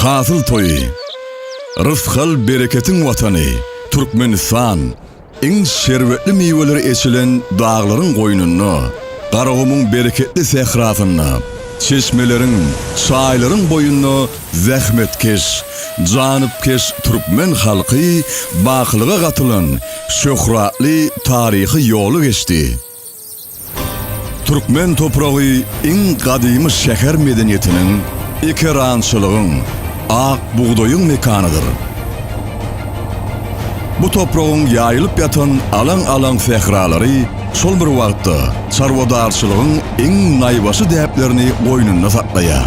Hasyl toýy, rysgal-bereketiň watany Türkmenistan iň şerbetli miweleri eçilen daglaryň goýnunda, Garagumuň bereketli sährasynda, çeşmeleriň, çaýlaryň boýunda zähmetkeş, janypkeş türkmen halky bakylyga gatylan şöhratly taryhy ýoly geçdi. Türkmen topragy iň gadymy şäher medeniýetiniň, ekerançylygyň, ak bugdaýyň mekanydyr. Bu topragyň ýaýylyp ýatan alaň-alaň sähralary şol bir wagtda çarwadarçylygyň iň naýbaşy däplerini goýnunda saklaýar.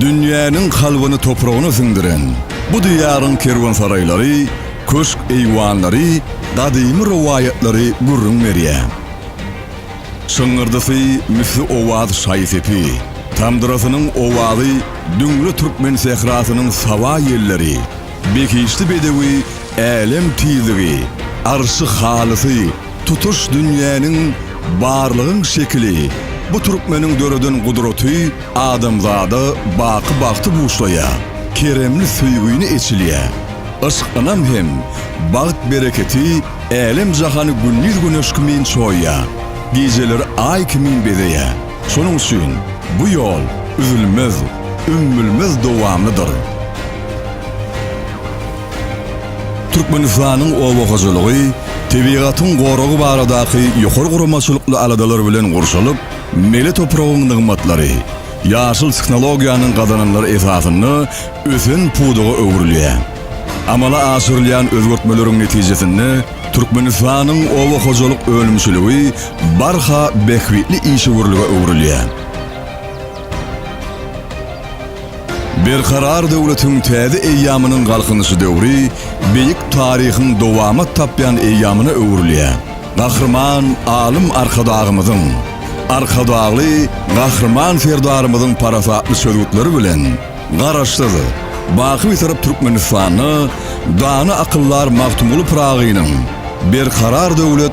Dünýäniň kalbyny topragyna siňdiren bu diýaryň kerwensaraýlary, köşk-eýwanlary, gadymy rowaýatlary gürrüň berýär. Şyňňyrdysy misli owaz şaý-sepi, tamdyrasynyň owazy düňle türkmen sährasynyň saba ýelleri, behişdi bedewi älem tizligi, arşy halysy Tutuş dünýäniň barlygyň şekili Bu türkmeniň döreden gudraty adamzada baky bagty buşlaýar, keremli söýgüni eçilýär. Yşk ynam hem bagt bereketi älem jahany gündiz güneş kimin çoýýar, gijeleri aý kimin bezeýär. Şonuň üçin bu ýol üzülmez, ümmülmez dowamlydyr. Türkmenistanyň oba hojalygy, tebigatyň goragy baradaky ýokary guramaçylykly aladalar bilen gurşalyp, mele topragyň nygmatlary, ýaşyl tehnologiýanyň gazananlary esasynda ösen pudaga öwrülýär. Amala aşyrylýan özgertmeleriň netijesinde Türkmenistanyň oba hojalyk önümçiligi barha bähbitli işewürlige öwrülýär. Berkarar döwletiň täze eýýamynyň Galkynyşy döwri beýik taryhyň dowamat tapýan eýýamyna öwrülýär. Gahryman Alym Arkadagymyzyň, Arkadagly Gahryman Serdarymyzyň parasatly çözgütleri bilen Garaşsyz, baky Bitarap Türkmenistanda dana akyldar Magtymguly Pyragynyň Berkarar döwlet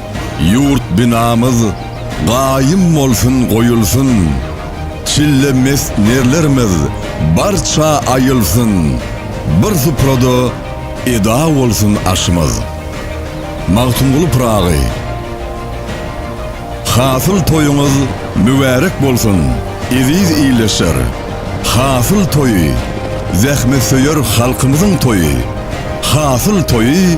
Ýurt binamyz gaýym bolsun goýulsyn, Çille mest nerlerimiz barça aýylsyn, Bir suprada eda bolsun aşymyz. Magtymguly Pyragy Hasyl toýuňyz mübärek bolsun, eziz ildeşler! Hasyl toýy, zähmetsöýer halkymyzyň toýy! Hasyl toýy!